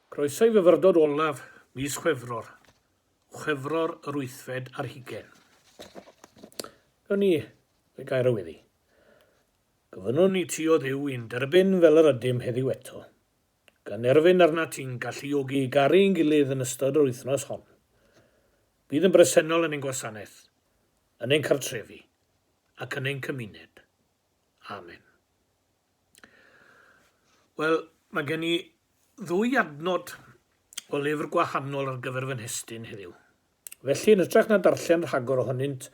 Croeso i fyfyrdod olaf mis Chwefror, Chwefror yr wythfed ar hugain. Gawn ni y gair o weddi. Gofynnwn i ti o dduw i'n derbyn fel yr ydym heddiw eto, gan erfyn arnat ti'n galluogi i garu i'n gilydd yn ystod yr wythnos hon. Bydd yn bresennol yn ein gwasanaeth, yn ein cartrefi, ac yn ein cymuned. Amen. Wel, mae gen i ddwy adnod o lyfr gwahanol ar gyfer fy nhestun heddiw. Felly, yn hytrach na darllen rhagor ohonynt,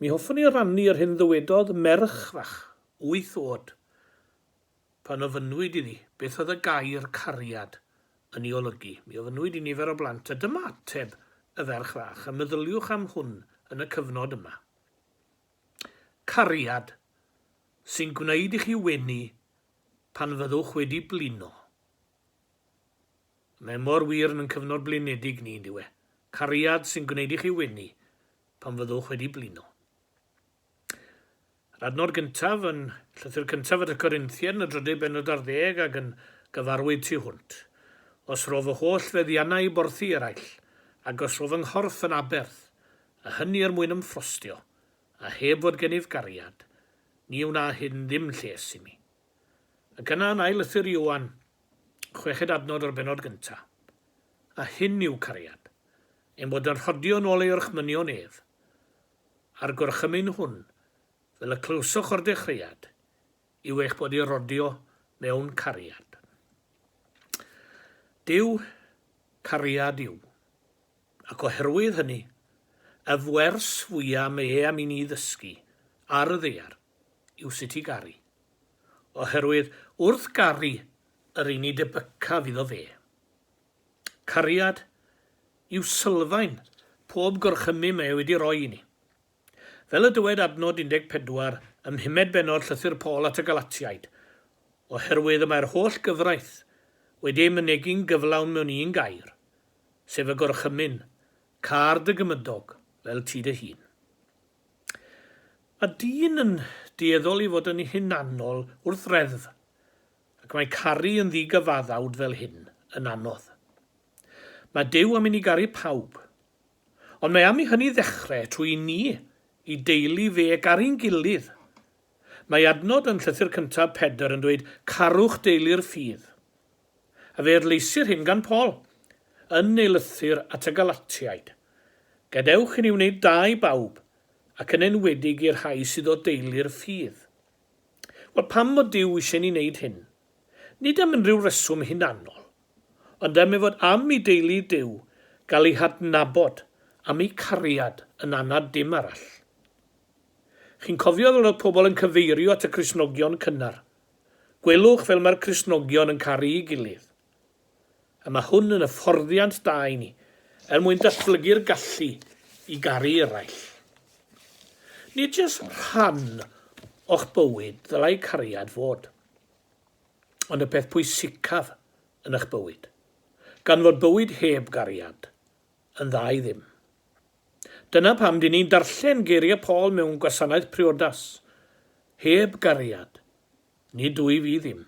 mi hoffwn i rannu yr hyn ddywedodd merch fach, wyth oed, pan ofynnwyd iddi beth oedd y gair cariad yn ei olygu. Mi ofynnwyd i nifer o blant, a dyma ateb y ferch fach, a meddyliwch am hwn yn y cyfnod yma. Cariad, sy'n gwneud i chi wenu pan fyddwch wedi blino. Mae mor wir yn ein cyfnod blinedig ni, ynddiw e? Cariad sy'n gwneud i chi wenu pan fyddwch wedi blino. Yr adnod gyntaf yn llythyr cyntaf at y Corinthiaid yn y drydeg benod ar ddeg ac yn gyfarwydd tu hwnt. Os rof fy holl feddiannau i borthi eraill, ac os rof fy nghorff yn aberth, a hynny er mwyn ymffrostio, a heb fod gennyf gariad, ni wna hyn ddim lles imi. Ac yna yn ail lythyr Ioan, chweched adnod o'r bennod gynta, A hyn yw cariad, ein bod yn rhodio yn ol ei orchmynion ef, a'r gorchymyn hwn, fel y clywsoch o'r dechreuad, yw eich bod i rodio mewn cariad. Duw, cariad yw. Ac oherwydd hynny, y wers fwya mae e am i ni ddysgu ar y ddaear yw sut i garu. Oherwydd wrth garu yr un ni debycaf iddo fe. Cariad yw sylfaen pob gorchymyn mae e wedi roi i ni. Fel y dywed adnod 14 ym mhumed bennod Llythyr Paul at y Galatiaid, Oherwydd y mae'r holl gyfraith wedi ei mynegi'n gyflawn mewn un gair, sef y Gorchymyn, Car dy gymydog fel ti dy hun. Mae dyn yn dueddol i fod yn hunanol wrth reddf, ac mae caru yn ddigyfaddawd fel hyn yn anodd. Mae Duw am i ni garu pawb, Ond mae am i hynny ddechrau trwy i ni, i deulu fe, garu'n gilydd. Mae adnod yn Llythyr Cyntaf Pedr yn dweud carwch deulu'r ffydd. A fe adleisir hyn gan Paul, yn ei lythyr at y Galatiaid, Gadewch i ni wneud da i bawb, ac yn enwedig i'r rhai sydd o deulu'r ffydd. Wel, pam fod Duw eisiau ni wneud hyn? nid am unrhyw reswm hunanol, ond am ei fod am i deulu Duw gael eu hadnabod am eu cariad yn anad dim arall. Chi'n cofio fel oedd pobl yn cyfeirio at y Cristnogion cynnar, Gwelwch fel mae'r Cristnogion yn caru'i gilydd. A mae hwn yn hyfforddiant da i ni, er mwyn datblygu'r gallu i garu eraill. Nid jyst rhan o'ch bywyd ddylai cariad fod. ond y peth pwysicaf yn eich bywyd, gan fod bywyd heb gariad yn dda i ddim. Dyna pam dyn ni'n darllen geiriau Paul mewn gwasanaeth priodas, Heb gariad, nid wyf i ddim.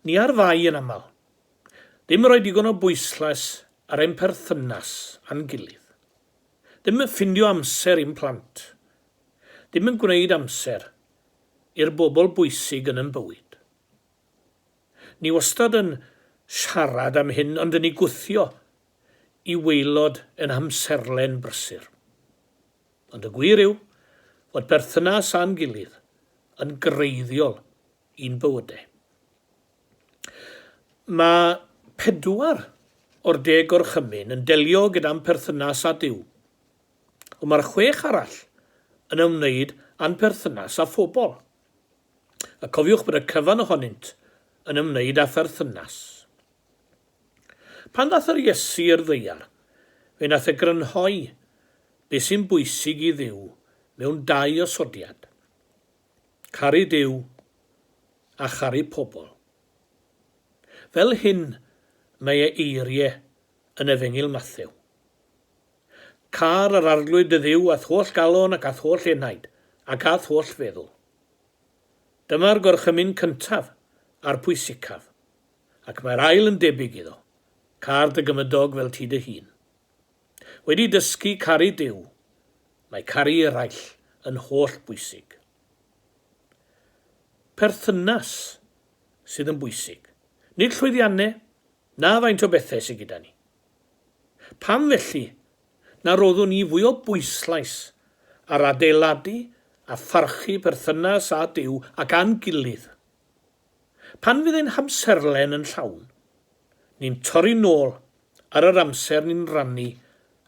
Ni ar fai yn aml. Ddim yn rhoi digon o bwyslais ar ein perthynas â'n gilydd. Ddim yn ffindio amser i'n plant, Ddim yn gwneud amser i'r bobl bwysig yn yn bywyd. Ni wastad yn siarad am hyn ond yn ei gwthio i waelod yn amserlen brysur. Ond y gwir yw fod perthynas â'n gilydd yn greiddiol i'n bywyde. Mae pedwar o'r deg gorchymyn yn delio gyda'n perthynas â Duw. ond mae'r chwech arall yn ymwneud â'n perthynas â phobl. A cofiwch bod y cyfan ohonynt yn ymwneud â pherthynas. Pan ddath yr Iesu i'r ddaear, fe nath e grynhoi beth sy'n bwysig i Dduw mewn dau osodiad, caru Duw a charu pobl. Fel hyn mae e eirie yn Efengyl Mathew. Car yr Arglwydd dy Dduw a'th holl galon ac a'th holl enaid, ac a'th holl feddwl. Dyma'r gorchymyn cyntaf a'r pwysicaf, ac mae'r ail yn debyg iddo, Car dy gymydog fel ti dy hun. Wedi dysgu caru Duw, mae caru eraill yn holl bwysig. Perthynas sydd yn bwysig, nid llwyddianne, Na faint o bethau sy gyda ni. Pam felly na roddwn ni fwy o bwyslais ar adeiladu a pharchu perthynas â Duw ac â'n gilydd? Pan fydd ein hamserlen yn llawn, ni'n torri nôl ar yr amser ni'n rannu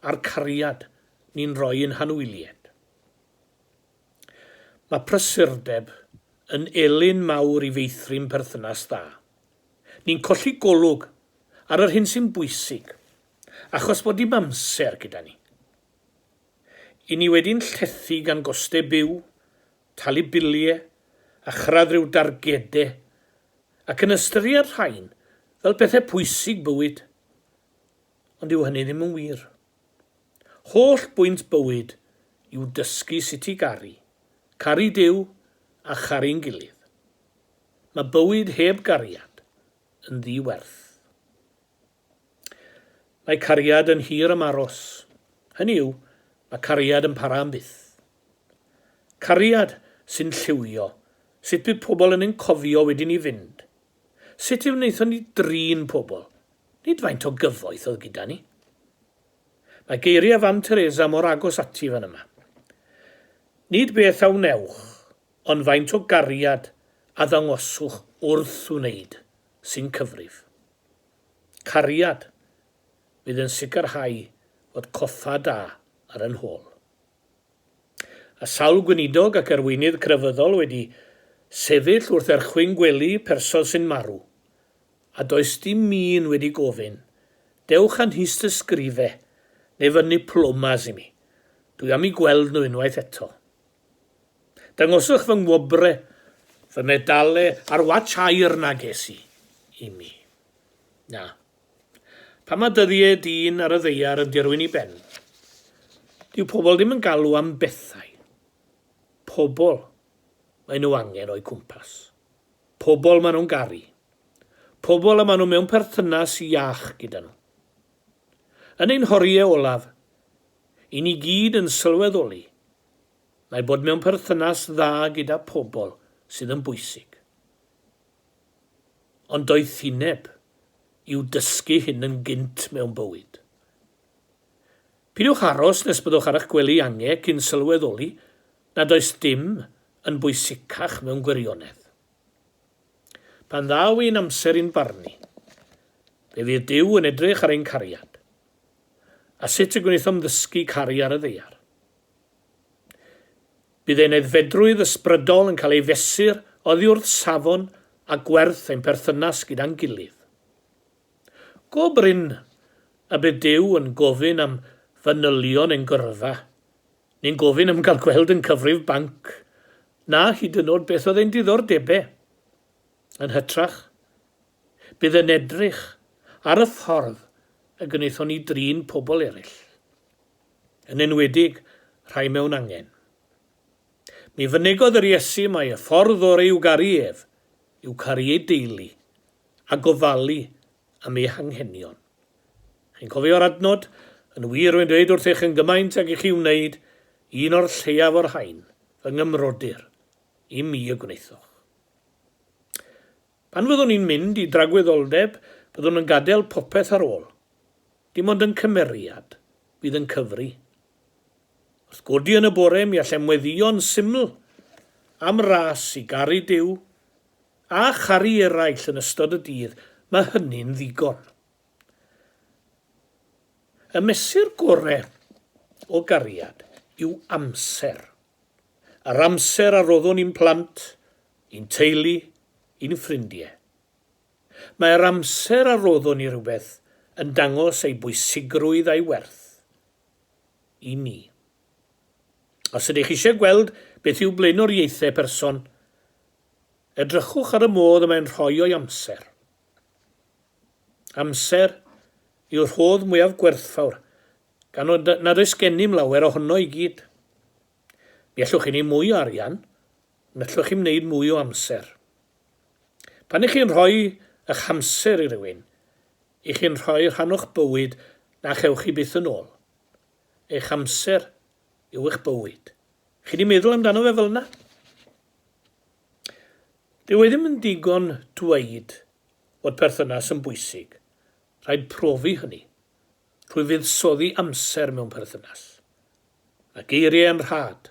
a'r cariad ni'n rhoi i'n hanwyliaid. Mae prysurdeb yn elyn mawr i feithrin perthynas dda. Ni'n colli golwg ar yr hyn sy'n bwysig achos bod dim amser gyda ni. I ni wedi'n llethu gan gostau byw, talu biliau a chyrraedd rhyw dargedau ac yn ystyried rhain fel pethau pwysig bywyd. Ond dyw hynny ddim yn wir. Holl bwynt bywyd yw dysgu sut i garu, caru Duw a charu'n gilydd. Mae bywyd heb gariad yn ddi-werth. Mae cariad yn hir am aros. Hynny yw, mae cariad yn para am byth. Cariad sy'n lliwio, sut bydd pobl yn ein cofio wedyn ni fynd? Sut fe wnaethon ni drin pobl? Nid faint o gyfoeth oedd gyda ni. Mae geiriau Fam Teresa mor agos ati fan yma. Nid beth a wnewch, ond faint o gariad a ddangoswch wrth wneud sy'n cyfrif. Cariad fydd yn sicrhau fod coffa da ar ein hôl. A sawl gweinidog ac arweinydd crefyddol wedi sefyll wrth erchwyn gwely person sy'n marw, a does dim un wedi gofyn, dewch â nhist ysgrife neu fynnu plomas i mi, dwi am eu gweld nhw unwaith eto. Dangoswch fy ngwobre, fy medale a'r watch aur na ges i i mi. Na. Pan mae dyddiau dyn ar y ddaear yn dirwyn i ben, dyw pobl ddim yn galw am bethau. Pobl maen nhw angen o'u cwmpas. Pobl maen nhw'n garu. Pobl y maen nhw mewn perthynas iach gyda nhw. Yn ein horiau olaf, i ni gyd yn sylweddoli Mae bod mewn perthynas dda gyda pobl sydd yn bwysig. Ond doethineb yw dysgu hyn yn gynt mewn bywyd. Pidiwch aros nes byddwch ar eich gwely ange cyn sylweddoli nad oes dim yn bwysicach mewn gwirionedd. Pan ddaw ein amser i'n barnu, fe fydd Duw yn edrych ar ein cariad. a sut y gwnaethom ddysgu caru ar y ddaear. Bydd ein aeddfedrwydd ysbrydol yn cael ei fesur oddi wrth safon a gwerth ein perthynas gyda'n gilydd. Go brin y bydd Duw yn gofyn am fanylion ein gyrfa, neu'n gofyn am gael gweld yn cyfrif banc, na hyd yn oed beth oedd ein diddordebau. Yn hytrach, Bydd yn edrych ar y ffordd y gwnaethon ni drin pobl eraill, yn enwedig rhai mewn angen. Mi fynegodd yr Iesu mai y ffordd orau i'w garu ef yw caru ei deulu a gofalu am ei hanghenion. Chi'n cofio'r adnod, Yn wir rwy'n dweud wrthych yn gymaint ag i chi wneud un o'r lleiaf o'r rhain, fy ngymrodyr, i mi y gwnaethoch. Pan fyddwn ni'n mynd i dragwyddoldeb, byddwn yn gadael popeth ar ôl. Dim ond yn cymeriad fydd yn cyfri. Wrth godi yn y bore mi allem weddïo'n syml am ras i garu Duw a charu eraill yn ystod y dydd, mae hynny'n ddigon. Y mesur gore o gariad yw amser. Yr amser a roddwn i'n plant i'n teulu, i'n ffrindie. Mae yr amser a roddwn i rhywbeth yn dangos ei bwysigrwydd a'i werth i ni. Os ydych eisiau gweld beth yw blaenoriaethau person, edrychwch ar y modd y mae'n rhoi o'i amser. Amser yw'r rhodd mwyaf gwerthfawr, gan nad oes gennym lawer ohono i gyd. Mi allwch chi wneud mwy o arian, Yn allwch chi wneud mwy o amser. Pan i chi'n rhoi ych hamser i rywun, i chi'n rhoi rhan o'ch bywyd na chewch chi byth yn ôl. Eich amser yw eich bywyd. Chi di meddwl amdano fe fel yna? Dyw e ddim yn digon dweud fod perthynas yn bwysig. Rhaid profi hynny. Rhwy fuddsoddi amser mewn perthynas. Mae geiriau yn rhad.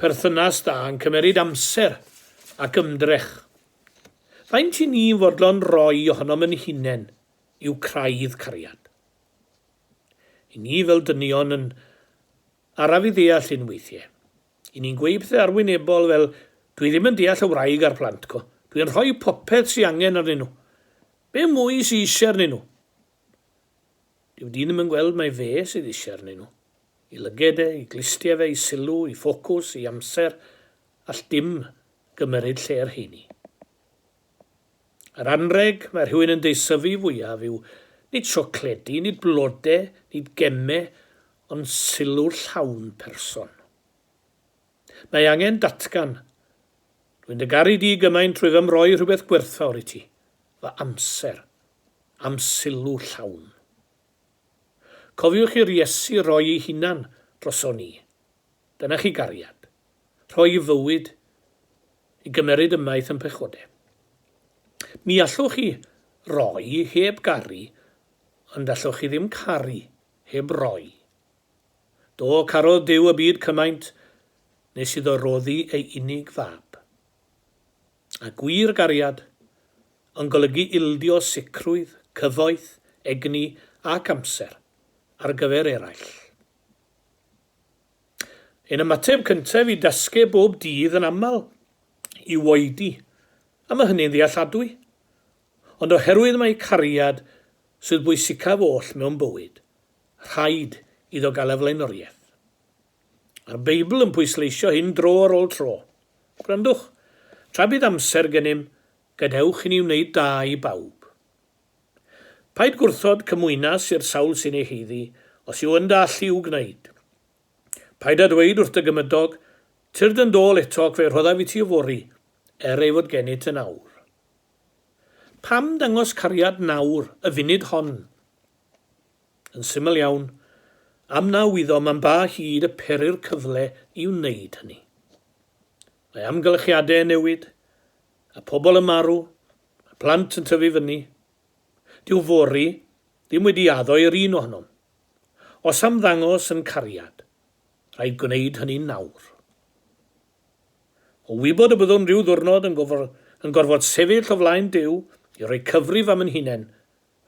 Perthynas da yn cymeryd amser ac ymdrech. Faint i ni'n fodlon roi ohonom yn hunen yw craidd cariad. I ni fel dynion yn araf i ddeall hyn weithie. I ni'n gweud pethe arwynebol fel Dwi ddim yn deall y wraig a'r plant co. Dwi yn rhoi popeth sy angen arnyn nhw. Be mwy sy eisiau arnyn nhw? Dyw dyn ddim yn gweld mai fe sydd eisiau arnyn nhw. I lyged e, i glustie fe, i sylw, i ffocws, i amser, all dim gymeryd lle y rheini. Yr anrheg mae rhywun yn deisyfu fwyaf yw nid siocledi, nid blode, nid gemme, ond sylw'r llawn person. Mae angen datgan. Dwi'n dy garu di gymaint rwyf am roi rhywbeth gwerthfawr i ti, fy amser, a'm sylw llawn. Cofiwch i'r Iesu roi ei hunan droson ni. Dyna chi gariad. Rhoi i fywyd i gymeryd ymaith yn pechode. Mi allwch chi roi heb garu ond allwch chi ddim caru heb roi. Do, carodd Duw y byd cymaint nes iddo roddi ei unig fab. A gwir gariad yn golygu ildio sicrwydd, cyfoeth, egni ac amser ar gyfer eraill. Ein ymateb cyntaf i dasgeb bob dydd yn aml yw oedi, a mae hynny'n ddealladwy. Ond oherwydd mai cariad sydd bwysicaf oll mewn bywyd, Rhaid iddo gael y flaenoriaeth. Mae'r Beibl yn pwysleisio hyn dro ar ôl tro. Gwrandwch, tra bydd amser gennym, gadewch i ni wneud da i bawb. Paid gwrthod cymwynas i'r sawl sy'n ei haeddu, os yw yn dy allu i'w gwneud. Paid â dweud wrth dy gymydog, Tyrd yn d'ôl eto ac fe rhoddaf i ti yfory, er ei fod gennyt yn awr. Pam dangos cariad nawr, y funud hon? Yn syml iawn, am naw iddo man ba hyd y pery'r cyfle i wneud hynny. Mae amgylchiadau yn newid, a pobl yn marw, mae plant yn tyfu fyny. Dyw fory ddim wedi addo i'r un ohonom. Os am ddangos yn cariad, rhaid gwneud hynny nawr. O wybod y byddwn rhyw ddwrnod yn, yn gorfod sefyll o flaen Duw i roi cyfrif am yn hunain,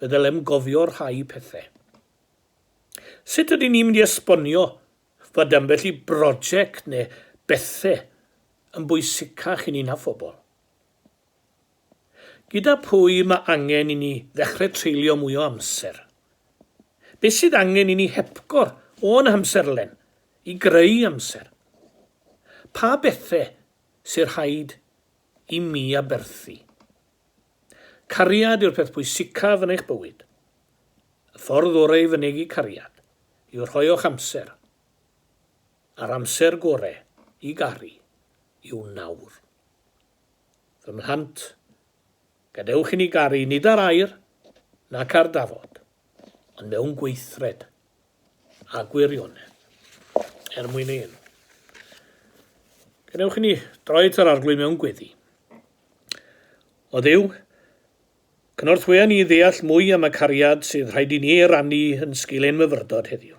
y ddylem gofio rhai pethau. Sut ydyn ni'n mynd i esbonio fod ambell i broject neu bethau yn bwysicach i ni na phobl? Gyda phwy mae angen i ni ddechrau treulio mwy o amser? Beth sydd angen i ni hepgor o'n hamserlen i greu amser? Pa bethau sy'n rhaid i mi aberthu. Cariad yw'r peth pwysicaf yn eich bywyd. Y ffordd orau i fynegi cariad yw rhoi o'ch amser, a'r amser gorau i garu yw nawr. Fy mhlant, gadewch i ni garu nid ar air nac ar dafod, ond mewn gweithred. a gwirionedd er mwyn ei enw. Gwnewch i ni droi at yr arglwydd mewn gweddi. O ddew, cynorthwya ni ddeall mwy am y cariad sydd rhaid i ni ei rannu yn sgil ein myfyrdod heddiw.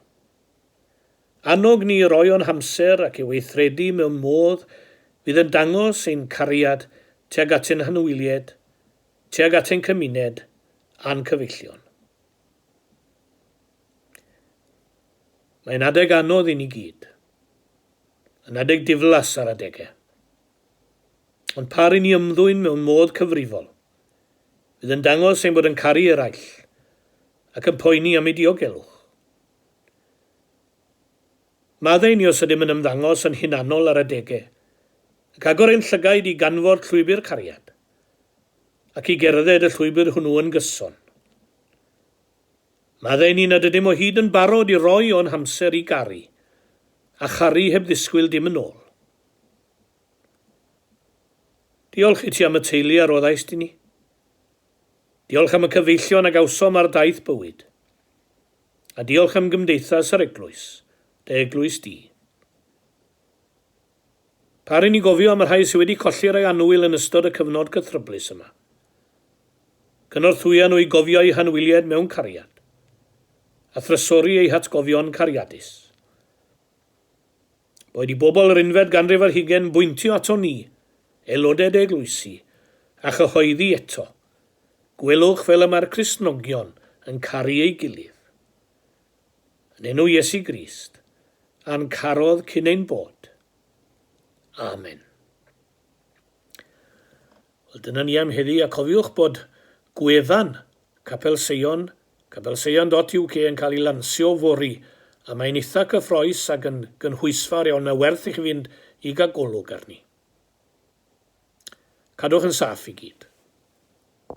Annog ni roi o'n hamser ac i weithredu mewn modd fydd yn dangos ein cariad tuag at ein hanwylied, tuag at ein cymuned a'n cyfeillion. Mae'n adeg anodd i ni gyd. Yn adeg diflas ar adegau. Ond pa ry'n ni ymddwyn mewn modd cyfrifol, fydd yn dangos ein bod yn caru eraill ac yn poeni am eu diogelwch. Maddau ni os ydym yn ymddangos yn hunanol ar adegau, ac agor ein llygaid i ganfod llwybr cariad, ac i gerdded y llwybr hwnnw yn gyson. Meddai ni nad ydym o hyd yn barod i roi o'n hamser i garu, a charu heb ddisgwyl dim yn ôl. Diolch i ti am y teulu a roddaist i ni. Diolch am y cyfeillion a gawsom ar daith bywyd. A diolch am gymdeithas yr eglwys, dy eglwys di. Pa ry'n ni'n gofio am y rhai sydd wedi colli rhai annwyl yn ystod y cyfnod cythryblus yma? Cynorthwya nhw i gofio eu hanwyliaid mewn cariad, a thrysori eu hatgofion cariadus. Boed i bobl yr unfed ganrif ar hugain bwyntio aton ni, aelodau dy eglwysi, a chyhoeddi eto, Gwelwch fel y mae'r Cristnogion yn caru ei gilydd. Yn enw Iesu Grist, a'n carodd cyn ein bod. Amen. Wel, dyna ni am heddi, a cofiwch bod gwefan Capel Seion, capelseion.uk yn cael ei lansio fori, a mae'n eitha cyffroes ac yn gynhwysfawr iawn, mae werth i chi fynd i gael golwg arni. Cadwch yn saff i gyd.